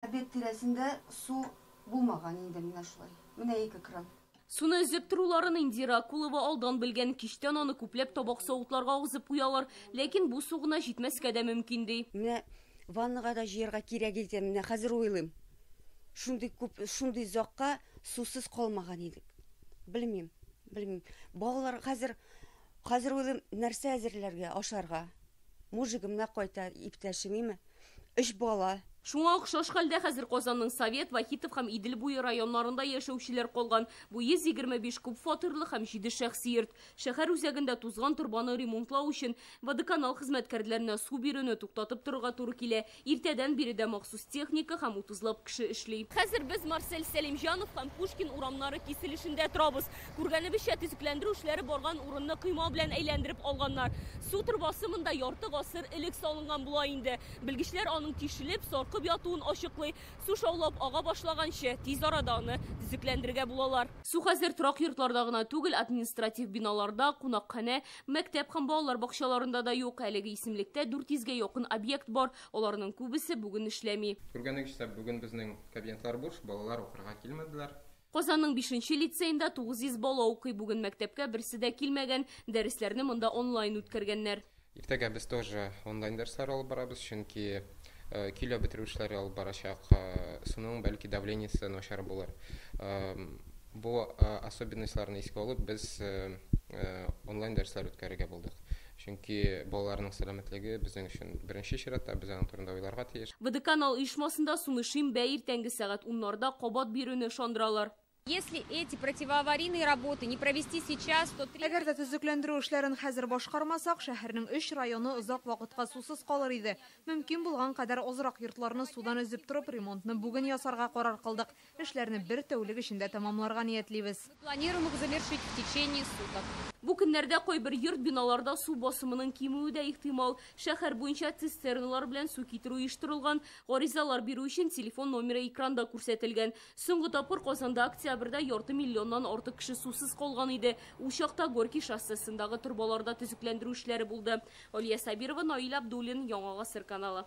Обед тирәсендә су булмаган инде менә шулай. Менә ике кран. Суны өзеп торуларын Индира Акулова алдан белгән, кичтән аны күпләп табак-савытларга агызып куялар. Ләкин бу су гына җитмәскә дә мөмкин, ди. Менә ваннага да җыярга кирәк икән, менә хәзер уйлыйм. Шундый күп, шундый озакка сусыз калмаган идек. Белмим, белмим. Балалар хәзер Хәзер уйлыйм, нәрсә әзерләргә, ашарга? Мужигым да кайта, иптәшем име? Өч бала. Шуңа охшаш хәлдә хәзер Казанның Совет, Вахитов һәм Идел буе районнарында яшәүчеләр калган. Бу 125 күп фатирлы һәм җиде шәхси йорт. Шәһәр үзәгендә тузган торбаны ремонтлау өчен водоканал хезмәткәрләренә су бирүне туктатып торырга туры килә. Иртәдән бире дә махсус техника һәм утызлап кеше эшли. Хәзер без Марсель Сәлимҗанов һәм Пушкин урамнары киселешендә торабыз. Күргәнебезчә, төзекләндерү эшләре барган урынны койма белән әйләндереп алганнар. Су торбасы монда ярты гасыр элек салынган була инде. Белгечләр аның тишелеп, саркып ятуын ачыклый. Су шаулап ага башлаганчы, тиз арада аны төзекләндерергә булалар. Су хәзер торак йортларда гына түгел, административ биналарда, кунакханә, Мәктәп һәм балалар бакчаларында да юк. Әлеге исемлектә 400 гә якын объект бар. Аларның күбесе бүген эшләми. Күргәнегезчә, бүген безнең кабинетлар буш, балалар укырга килмәделәр. Казанның бишенче лицеенда 900 бала укый. Бүген мәктәпкә берсе дә килмәгән. Дәресләрне монда онлайн үткәргәннәр. Иртәгә без тоже онлайн дәресләр алып барабыз, чөнки көйләү бетерү эшләре алып барачак, суның бәлки давлениесе начар булыр. Бу особенностьларны искә алып, без онлайн дәресләр үткәрергә булдык. Чөнки балаларның сәламәтлеге безнең өчен беренче чиратта, без аның турында уйларга тиеш. БДК-Нал оешмасында суны шимбә иртәнге сәгать уннарда кабат бирүне ышандыралар. Әгәр дә төзекләндерү эшләрен хәзер башкармасак, шәһәрнең өч районы озак вакытка сусыз калыр иде. Мөмкин булган кадәр азрак йортларны судан өзеп торып, ремонтны бүген ясарга карар кылдык. Эшләрне бер тәүлек эчендә тәмамларга ниятлибез. Бу көннәрдә кайбер йорт-биналарда су басымының кимүе дә ихтимал. Шәһәр буенча цистерналар белән су китерү оештырылган. Гаризалар бирү өчен телефон номеры экранда күрсәтелгән. Соңгы тапкыр Казанда октябрьдә ярты миллионнан артык кеше сусыз калган иде. Ул чакта Горький шоссесындагы торбаларда төзекләндерү эшләре булды. Алия Сабирова, Наил Абдуллин, Яңа гасыр каналы.